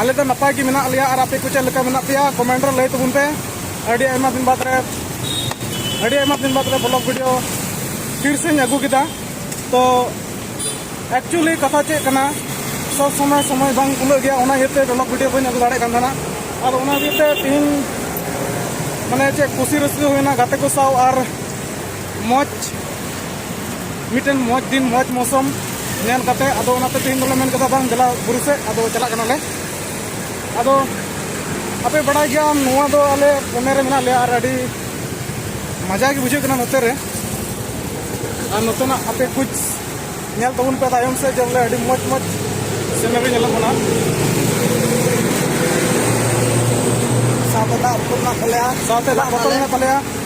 ᱟᱞᱮ ᱫᱚ ᱱᱟᱯᱟᱭ ᱜᱮ ᱢᱮᱱᱟᱜ ᱞᱮᱭᱟ ᱟᱨ ᱟᱯᱮ ᱠᱚ ᱪᱮᱫ ᱞᱮᱠᱟ ᱢᱮᱱᱟᱜ ᱯᱮᱭᱟ ᱠᱚᱢᱮᱱᱴ ᱨᱮ ᱞᱟᱹᱭ ᱛᱟᱵᱚᱱ ᱯᱮ ᱟᱹᱰᱤ ᱟᱭᱢᱟ ᱫᱤᱱ ᱵᱟᱫᱽ ᱨᱮ ᱟᱹᱰᱤ ᱟᱭᱢᱟ ᱫᱤᱱ ᱵᱟᱫᱽ ᱨᱮ ᱵᱞᱚᱜ ᱵᱷᱤᱰᱤᱭᱳ ᱯᱷᱤᱨ ᱥᱮᱧ ᱟᱹᱜᱩ ᱠᱮᱫᱟ ᱛᱚ ᱮᱠᱪᱩᱭᱮᱞᱤ ᱠᱟᱛᱷᱟ ᱪᱮᱫ ᱠᱟᱱᱟ ᱥᱚᱵ ᱥᱚᱢᱚᱭ ᱥᱚᱢᱚᱭ ᱵᱟᱝ ᱠᱩᱞᱟᱹᱜ ᱜᱮᱭᱟ ᱚᱱᱟ ᱤᱭᱟᱹᱛᱮ ᱵᱞᱚᱜ ᱵᱷᱤᱰᱤᱭᱳ ᱵᱟᱹᱧ ᱟᱹᱜᱩ ᱫᱟᱲᱮᱭᱟᱜ ᱠᱟᱱ ᱛᱟᱦᱮᱱᱟ ᱟᱫᱚ ᱚᱱᱟ ᱤᱭᱟᱹᱛᱮ ᱛᱤᱦᱤᱧ ᱢᱟᱱᱮ ᱪᱮᱫ ᱠᱩᱥᱤ ᱨᱟᱹᱥᱠᱟᱹ ᱦᱩᱭᱱᱟ ᱜᱟᱛᱮ ᱠᱚ ᱥᱟᱶ ᱟᱨ ᱢᱚᱡᱽ ᱢᱤᱫᱴᱮᱱ ᱢᱚᱡᱽ ᱫᱤᱱ ᱢᱚᱡᱽ ᱢᱚᱥᱚᱢ ᱧᱮᱞ ᱠᱟᱛᱮ ᱟᱫᱚ ᱚᱱᱟᱛᱮ ᱛᱮᱦᱮᱧ ᱫᱚᱞᱮ ᱢᱮᱱ ᱠᱮᱫᱟ ᱵᱟᱝ ᱫᱮᱞᱟ ᱵᱩᱨᱩ ᱥᱮᱫ ᱟᱫᱚ ᱪᱟᱞᱟᱜ ᱠᱟᱱᱟᱞᱮ ᱟᱫᱚ ᱟᱯᱮ ᱵᱟᱲᱟᱭ ᱜᱮᱭᱟᱢ ᱱᱚᱣᱟ ᱫᱚ ᱟᱞᱮ ᱯᱚᱱᱮ ᱨᱮ ᱢᱮᱱᱟᱜ ᱞᱮᱭᱟ ᱟᱨ ᱟᱹᱰᱤ ᱢᱟᱡᱟ ᱜᱮ ᱵᱩᱡᱷᱟᱹᱜ ᱠᱟᱱᱟ ᱱᱚᱛᱮ ᱨᱮ ᱟᱨ ᱱᱚᱛᱮᱱᱟᱜ ᱟᱯᱮ ᱠᱩᱪ ᱧᱮᱞ ᱛᱟᱵᱚᱱ ᱯᱮ ᱛᱟᱭᱚᱢ ᱥᱮᱫ ᱡᱮ ᱵᱚᱞᱮ ᱟᱹᱰᱤ ᱢᱚᱡᱽ ᱢᱚᱡᱽ ᱥᱤᱱᱟᱹᱨᱤ ᱧᱮᱞᱚᱜ ᱠᱟᱱᱟ ᱥᱟᱶᱛᱮ ᱫᱟᱜ ᱵᱚᱛᱚᱞ ᱢᱮᱱᱟᱜ ᱛᱟᱞᱮᱭᱟ ᱥᱟᱶᱛᱮ ᱫᱟᱜ ᱵᱚᱛᱚᱞ ᱢᱮᱱᱟᱜ ᱛᱟᱞᱮᱭᱟ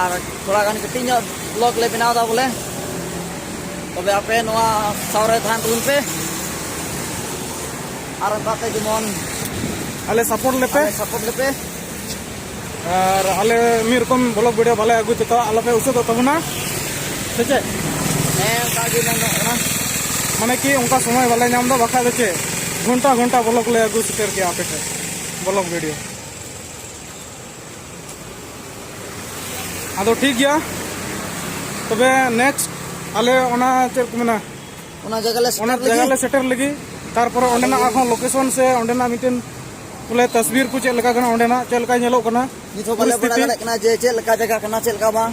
ᱟᱨ ᱛᱷᱚᱲᱟ ᱜᱟᱱ ᱠᱟᱹᱴᱤᱡ ᱧᱚᱜ ᱵᱞᱚᱜ ᱞᱮ ᱵᱮᱱᱟᱣ ᱮᱫᱟ ᱵᱚᱞᱮ ᱛᱚᱵᱮ ᱟᱯᱮ ᱱᱚᱣᱟ ᱥᱟᱶᱨᱮ ᱛᱟᱦᱮᱱ ᱛᱟᱵᱚᱱ ᱯᱮ ᱟᱨ ᱚᱱᱠᱟᱛᱮ ᱡᱮᱢᱚᱱ ᱟᱞᱮ ᱥᱟᱯᱳᱨᱴ ᱞᱮᱯᱮ ᱥᱟᱯᱳᱨᱴ ᱞᱮᱯᱮ ᱟᱨ ᱟᱞᱮ ᱢᱤᱫ ᱨᱚᱠᱚᱢ ᱵᱞᱚᱜ ᱵᱷᱤᱰᱤᱭᱳ ᱵᱟᱞᱮ ᱟᱹᱜᱩ ᱪᱮᱛᱟ ᱟᱞᱚᱯᱮ ᱩᱥᱟᱹᱫᱚᱜ ᱛᱟᱵᱚᱱᱟ ᱥᱮ ᱪᱮᱫ ᱦᱮᱸ ᱚᱱᱠᱟ ᱜᱮ ᱢᱮᱱᱚᱜ ᱠᱟᱱᱟ ᱢᱟᱱᱮ ᱠᱤ ᱚᱱᱠᱟ ᱥᱚᱢᱚᱭ ᱵᱟᱞᱮ ᱧᱟᱢ ᱮᱫᱟ ᱵᱟᱠᱷᱟᱡ ᱫᱚ ᱪᱮᱫ ᱜᱷᱚᱱᱴᱟ ᱜᱷᱚᱱᱴᱟ ᱵᱞᱚᱜ ᱞᱮ ᱟᱹᱜᱩ ᱥᱮᱴᱮᱨ ᱠᱮᱭᱟ ᱟᱯᱮ ᱴᱷᱮᱱ ᱵᱞᱚᱜ ᱵᱷᱤᱰᱤᱭᱳ ᱟᱫᱚ ᱴᱷᱤᱠ ᱜᱮᱭᱟ ᱛᱚᱵᱮ ᱱᱮᱠᱥᱴ ᱟᱞᱮ ᱚᱱᱟ ᱪᱮᱫ ᱠᱚ ᱢᱮᱱᱟ ᱚᱱᱟ ᱡᱟᱭᱜᱟ ᱞᱮ ᱚᱱᱟ ᱥᱮᱴᱮᱨ ᱡᱟᱭᱜᱟ ᱞᱮ ᱞᱟᱹᱜᱤᱫ ᱥᱮᱴᱮᱨ ᱞᱟᱹᱜᱤᱫ ᱛᱟᱨᱯᱚᱨᱮ ᱚᱸᱰᱮᱱᱟᱜ ᱟᱨᱦᱚᱸ ᱞᱳᱠᱮᱥᱚᱱ ᱥᱮ ᱚᱸᱰᱮᱱᱟᱜ ᱢᱤᱫᱴᱮᱱ ᱵᱚᱞᱮ ᱛᱟᱥᱵᱤᱨ ᱠᱚ ᱪᱮᱫ ᱞᱮᱠᱟ ᱠᱟᱱᱟ ᱚᱸᱰᱮᱱᱟᱜ ᱪᱮᱫ ᱞᱮᱠᱟ ᱧᱮᱞᱚᱜ ᱠᱟᱱᱟ ᱱᱤᱛ ᱦᱚᱸ ᱵᱟᱞᱮ ᱵᱟᱲᱟᱭ ᱯᱚᱨᱤᱥᱛᱷᱤᱛᱤ ᱫᱟᱲᱮᱭᱟᱜ ᱠᱟᱱᱟ ᱡᱮ ᱪᱮᱫ ᱞᱮᱠᱟ ᱡᱟᱭᱜᱟ ᱠᱟᱱᱟ ᱪᱮᱫ ᱞᱮᱠᱟ ᱵᱟᱝ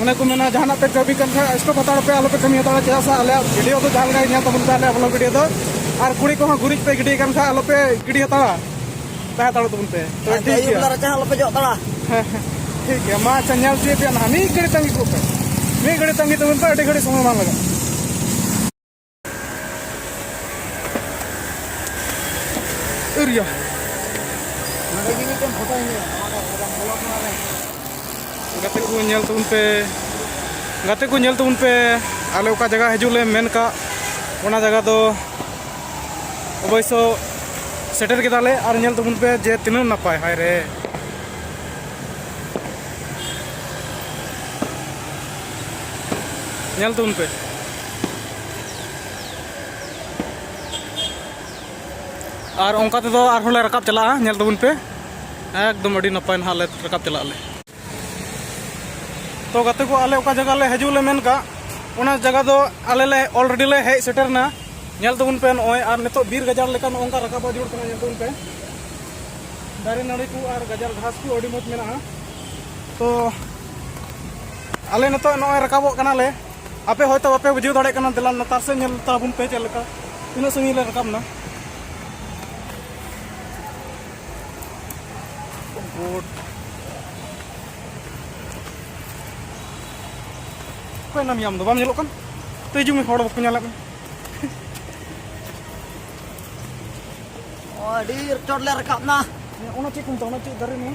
ᱚᱱᱮ ᱠᱚ ᱢᱮᱱᱟ ᱡᱟᱦᱟᱱᱟᱜ ᱯᱮ ᱠᱟᱹᱢᱤ ᱠᱟᱱ ᱠᱷᱟᱱ ᱥᱴᱚᱯ ᱦᱟᱛᱟᱲ ᱯᱮ ᱟᱞᱚᱯᱮ ᱠᱟᱹᱢᱤ ᱦᱟᱛᱟᱲᱟ ᱪᱮᱫᱟᱜ ᱥᱮ ᱟᱞᱮᱭᱟᱜ ᱵᱷᱤᱰᱤᱭᱳ ᱫᱚ ᱡᱟᱦᱟᱸ ᱞᱮᱠᱟ ᱧᱮᱞ ᱛᱟᱵᱚᱱ ᱯᱮ ᱟᱞᱮᱭᱟᱜ ᱵᱞᱚᱜ ᱵᱷᱤᱰᱤᱭᱳ ᱫᱚ ᱟᱨ ᱠᱩᱲᱤ ᱠᱚᱦᱚᱸ ᱜᱩᱨᱤᱡ ᱯᱮ ᱜᱤᱰᱤ ᱠᱟᱱ ᱠᱷᱟᱱ ᱟᱞᱚᱯᱮ ᱜᱤᱰᱤ ᱦᱟᱛᱟᱲᱟ ᱛᱟᱦᱮᱸ ᱦᱟᱛᱟᱲ ᱛᱟᱵᱚᱱ ᱯᱮ ᱛᱚ ᱴᱷᱤᱠ ᱟᱹᱭᱩᱵ ᱜᱮᱭᱟ ᱵᱮᱞᱟ ᱨᱟᱪᱟ ᱟᱞᱚᱯᱮ ᱡᱚᱜ ᱛᱟᱲᱟ ᱦᱮᱸ ᱦᱮᱸ ᱴᱷᱤᱠ ᱜᱮᱭᱟ ᱢᱟ ᱟᱪᱪᱷᱟ ᱧᱮᱞ ᱛᱤᱭᱳᱜ ᱯᱮᱭᱟ ᱱᱟᱦᱟᱜ ᱢᱤᱫ ᱜᱷᱟᱹᱲᱤ ᱛᱟᱺᱜᱤ ᱠᱚᱜ ᱯᱮ ᱢᱤᱫ ᱜᱷᱟᱹᱲᱤ ᱛᱟᱺᱜᱤ ᱛᱟᱵᱚᱱ ᱯᱮ ᱟᱹᱰᱤ ᱜᱷᱟᱹᱲᱤ ᱥᱚᱢᱚᱭ ᱵᱟᱝ ᱞᱟᱜᱟᱜᱼᱟ area. ᱜᱟᱛᱮ ᱠᱚ ᱧᱮᱞ ᱛᱟᱵᱚᱱ ᱯᱮ ᱜᱟᱛᱮ ᱠᱚ ᱧᱮᱞ ᱛᱟᱵᱚᱱ ᱯᱮ ᱟᱞᱮ ᱚᱠᱟ ᱡᱟᱭᱜᱟ ᱦᱤᱡᱩᱜ ᱞᱮ ᱢᱮᱱ ᱠᱟᱜ ᱚᱱᱟ ᱡᱟᱭᱜᱟ ᱫᱚ ᱚᱵᱚᱥᱥᱚ ᱥᱮᱴᱮᱨ ᱠᱮᱫᱟᱞᱮ ᱟᱨ ᱧᱮᱞ ᱛᱟᱵᱚᱱ ᱯᱮ ᱡᱮ ᱛᱤᱱᱟᱹᱜ ᱱᱟᱯᱟᱭ ᱦᱟᱭ ᱨᱮ ᱧᱮᱞ ᱛᱟᱵᱚᱱ ᱯᱮ ᱟᱨ ᱚᱱᱠᱟ ᱛᱮᱫᱚ ᱟᱨᱦᱚᱸ ᱞᱮ ᱨᱟᱠᱟᱵ ᱪᱟᱞᱟᱜᱼᱟ ᱧᱮᱞ ᱛᱟᱵᱚᱱ ᱯᱮ ᱮᱠᱫᱚᱢ ᱟᱹᱰᱤ ᱱᱟᱯᱟᱭ ᱱᱟᱦᱟᱜ ᱞᱮ ᱨᱟᱠᱟᱵ ᱪᱟᱞᱟᱜ ᱟᱞᱮ ᱛᱚ ᱜᱟᱛᱮ ᱠᱚ ᱟᱞᱮ ᱚᱠᱟ ᱡᱟᱭᱜᱟ ᱞᱮ ᱦᱤᱡᱩᱜ ᱞᱮ ᱢᱮᱱ ᱠᱟᱜ ᱚᱱᱟ ᱡᱟᱭᱜᱟ ᱫᱚ ᱟᱞᱮ ᱞᱮ ᱚᱞᱨᱮᱰᱤ ᱞᱮ ᱦᱮᱡ ᱥᱮᱴᱮᱨᱱᱟ ᱧᱮᱞ ᱛᱟᱵᱚᱱ ᱯᱮ ᱱᱚᱜᱼᱚᱭ ᱟᱨ ᱱᱤᱛᱚᱜ ᱵᱤᱨ ᱜᱟᱡᱟᱲ ᱞᱮᱠᱟ ᱱᱚᱝᱠᱟ ᱨᱟᱠᱟᱵᱟ ᱡᱩᱲ ᱠᱟᱱᱟ ᱧᱮᱞ ᱛᱟᱵᱚᱱ ᱯᱮ ᱫᱟᱨᱮ ᱱᱟᱹᱲᱤ ᱠᱚ ᱟᱨ ᱜᱟᱡᱟᱲ ᱜᱷᱟᱥ ᱠᱚ ᱟᱹᱰᱤ ᱢᱚᱡᱽ ᱢᱮᱱᱟᱜᱼᱟ ᱛᱚ ᱟᱞᱮ ᱱᱤᱛᱚᱜ ᱱᱚᱜᱼᱚᱭ ᱨᱟᱠᱟᱵᱚᱜ ᱠᱟᱱᱟᱞᱮ ᱟᱯᱮ ᱦᱚᱭᱛᱚ ᱵᱟᱯᱮ ᱵᱩᱡᱷᱟᱹᱣ ᱫᱟᱲᱮᱭᱟᱜ ᱠᱟᱱᱟ ᱫᱮᱞᱟ ᱞᱟᱛᱟᱨ ᱥᱮᱫ ᱧᱮᱞ ᱛᱟᱵᱚᱱ ᱯᱮ ᱪᱮᱫ ᱞᱮᱠᱟ ᱛᱤᱱᱟᱹᱜ ᱥᱟᱺᱜᱤᱧ ᱞᱮ ᱨᱟᱠᱟᱵ ᱮᱱᱟ ᱵᱳᱴ ᱚᱠᱚᱭ ᱱᱟᱢ ᱟᱢ ᱫᱚ ᱵᱟᱢ ᱧᱮᱞᱚᱜ ᱠᱟᱱ ᱛᱚ ᱦᱤᱡᱩᱜ ᱢᱮ ᱦᱚᱲ ᱵᱟᱠᱚ ᱧᱮᱞᱮᱫ ᱢᱮ ᱟᱹᱰᱤ ᱪᱚᱴ ᱞᱮ ᱨᱟᱠᱟᱵ ᱮᱱᱟ ᱚᱱᱟ ᱪᱮᱫ ᱠᱚ ᱢᱮᱛᱟᱜᱼᱟ ᱚᱱᱟ ᱪᱮᱫ ᱫᱟᱨᱮ ᱱᱚᱣᱟ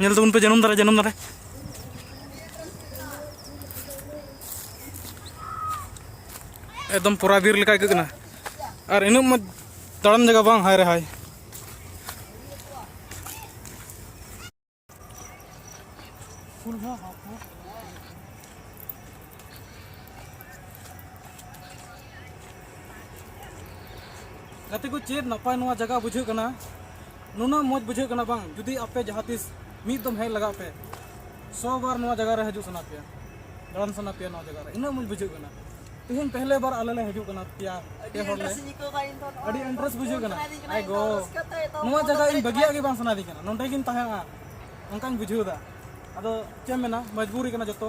ᱧᱮᱞ ᱛᱟᱵᱚᱱ ᱯᱮ ᱡᱟᱹᱱᱩᱢ ᱫᱟᱨᱮ ᱡᱟᱹᱱᱩᱢ ᱫᱟᱨᱮ ᱮᱠᱫᱚᱢ ᱯᱚᱨᱟ ᱵᱤᱨ ᱞᱮᱠᱟ ᱟᱹᱭᱠᱟᱹᱜ ᱠᱟᱱᱟ ᱟᱨ ᱤᱱᱟᱹᱜ ᱢᱚᱡᱽ ᱫᱟᱬᱟᱱ ᱡᱟᱭᱜᱟ ᱵᱟᱝ ᱦᱟᱭ ᱨᱮ ᱦᱟᱭ ᱜᱟᱛᱮ ᱠᱚ ᱪᱮᱫ ᱱᱟᱯᱟᱭ ᱱᱚᱣᱟ ᱡᱟᱭᱜᱟ ᱵᱩᱡᱷᱟᱹᱜ ᱠᱟᱱᱟ ᱱᱩᱱᱟᱹᱜ ᱢᱚᱡᱽ ᱵᱩᱡᱷᱟᱹᱜ ᱠᱟᱱᱟ ᱵᱟᱝ ᱡᱩᱫᱤ ᱟᱯᱮ ᱡᱟᱦᱟᱸ ᱛᱤᱥ ᱢᱤᱫ ᱫᱚᱢ ᱦᱮᱡ ᱞᱟᱜᱟᱜ ᱯᱮ ᱥᱚ ᱵᱟᱨ ᱱᱚᱣᱟ ᱡᱟᱭᱜᱟ ᱨᱮ ᱦᱤᱡᱩᱜ ᱥᱟᱱᱟ ᱯᱮᱭᱟ ᱫᱟᱬᱟᱱ ᱥᱟᱱᱟ ᱯᱮᱭᱟ ᱱᱚᱣᱟ ᱡᱟᱭᱜᱟ ᱨᱮ ᱩᱱᱟᱹᱜ ᱢᱚᱡᱽ ᱵᱩᱡᱷᱟᱹᱜ ᱠᱟᱱᱟ ᱛᱮᱦᱮᱧ ᱯᱮᱦᱞᱮ ᱵᱟᱨ ᱟᱞᱮ ᱞᱮ ᱦᱤᱡᱩᱜ ᱠᱟᱱᱟ ᱯᱮᱭᱟ ᱯᱮ ᱦᱚᱲ ᱞᱮ ᱟᱹᱰᱤ ᱤᱱᱴᱨᱮᱥᱴ ᱵᱩᱡᱷᱟᱹᱜ ᱠᱟᱱᱟ ᱟᱭ ᱜᱚ ᱱᱚᱣᱟ ᱡᱟᱭᱜᱟ ᱤᱧ ᱵᱟᱹᱜᱤᱭᱟᱜ ᱜᱮ ᱵᱟᱝ ᱥᱟᱱᱟᱭᱤᱧ ᱠᱟᱱᱟ ᱱᱚᱸᱰᱮ ᱜᱤᱧ ᱛᱟᱦᱮᱸᱜᱼᱟ ᱚᱱᱠᱟᱧ ᱵᱩᱡᱷᱟᱹᱣ ᱮᱫᱟ ᱟᱫᱚ ᱪᱮᱫ ᱢᱮᱱᱟ ᱢᱚᱡᱽᱵᱩᱨᱤ ᱠᱟᱱᱟ ᱡᱚᱛᱚ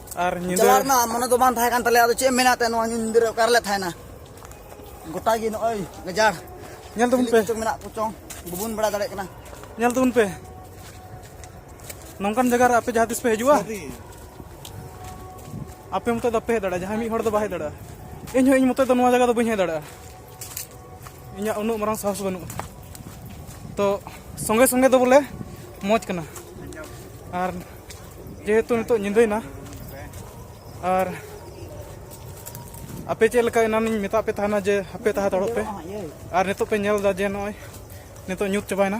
ᱟᱨ ᱧᱤᱫᱟᱹ ᱪᱟᱞᱟᱜ ᱨᱮᱱᱟᱜ ᱢᱚᱱᱮ ᱫᱚ ᱵᱟᱝ ᱛᱟᱦᱮᱸ ᱠᱟᱱ ᱛᱟᱞᱮᱭᱟ ᱟᱫᱚ ᱪᱮᱫ ᱮᱢ ᱢᱮᱱᱟ ᱛᱮ ᱱᱚᱣᱟ ᱧᱤᱫᱟᱹ ᱨᱮ ᱚᱠᱟ ᱨᱮᱞᱮ ᱛᱟᱦᱮᱱᱟ ᱜᱚᱴᱟ ᱜᱮ ᱱᱚᱜᱼᱚᱭ ᱜᱟᱡᱟᱲ ᱧᱮᱞ ᱛᱟᱵᱚᱱ ᱪᱤᱞᱤ ᱯᱮ ᱠᱚᱪᱚᱝ ᱢᱮᱱᱟᱜ ᱠᱚᱪᱚᱝ ᱵᱟᱵᱚᱱ ᱵᱟᱲᱟᱭ ᱫᱟᱲᱮᱭᱟᱜ ᱠᱟᱱᱟ ᱧᱮᱞ ᱛᱟᱵᱚᱱ ᱯᱮ ᱱᱚᱝᱠᱟᱱ ᱡᱟᱭᱜᱟ ᱨᱮ ᱟᱯᱮ ᱡᱟᱦᱟᱸ ᱛᱤᱥ ᱯᱮ ᱦᱤᱡᱩᱜᱼᱟ ᱟᱯᱮ ᱢᱚᱛᱚ ᱫᱚ ᱵᱟᱯᱮ ᱦᱮᱡ ᱫᱟᱲᱮᱭᱟᱜᱼᱟ ᱡᱟᱦᱟᱸᱭ ᱢᱤᱫ ᱦᱚᱲ ᱫᱚ ᱵᱟᱭ ᱦᱮᱡ ᱫᱟᱲᱮᱭᱟᱜᱼᱟ ᱤᱧ ᱦᱚᱸ ᱤᱧ ᱢᱚᱛᱚ ᱫᱚ ᱱᱚᱣᱟ ᱡᱟᱭᱜᱟ ᱫᱚ ᱵᱟᱹᱧ ᱦᱮᱡ ᱫᱟᱲᱮᱭᱟᱜᱼᱟ ᱤᱧᱟᱹᱜ ᱩᱱᱟᱹᱜ ᱢᱟᱨᱟᱝ ᱥᱟᱦᱚᱥ ᱵᱟᱹᱱᱩᱜᱼᱟ ᱛᱚ ᱥᱚᱸᱜᱮ ᱥᱚᱸᱜᱮ ᱫᱚ ᱵᱚᱞᱮ ᱢᱚᱡᱽ ᱠᱟᱱᱟ ᱟᱨ ᱡᱮᱦᱮᱛᱩ ᱱᱤᱛᱚᱜ ᱧᱤᱫᱟᱹᱭᱮᱱᱟ ᱟᱨ ᱟᱯᱮ ᱪᱮᱫ ᱞᱮᱠᱟ ᱮᱱᱟᱱᱤᱧ ᱢᱮᱛᱟᱜ ᱯᱮ ᱛᱟᱦᱮᱱᱟ ᱡᱮ ᱦᱟᱯᱮ ᱛᱟᱦᱮᱸ ᱫᱟᱲᱚᱜ ᱯᱮ ᱟᱨ ᱱᱤᱛᱚᱜ ᱯᱮ ᱧᱮᱞ ᱮᱫᱟ ᱡᱮ ᱱᱚᱜᱼᱚᱭ ᱱᱤᱛᱚᱜ ᱧᱩᱛ ᱪᱟᱵᱟᱭᱮᱱᱟ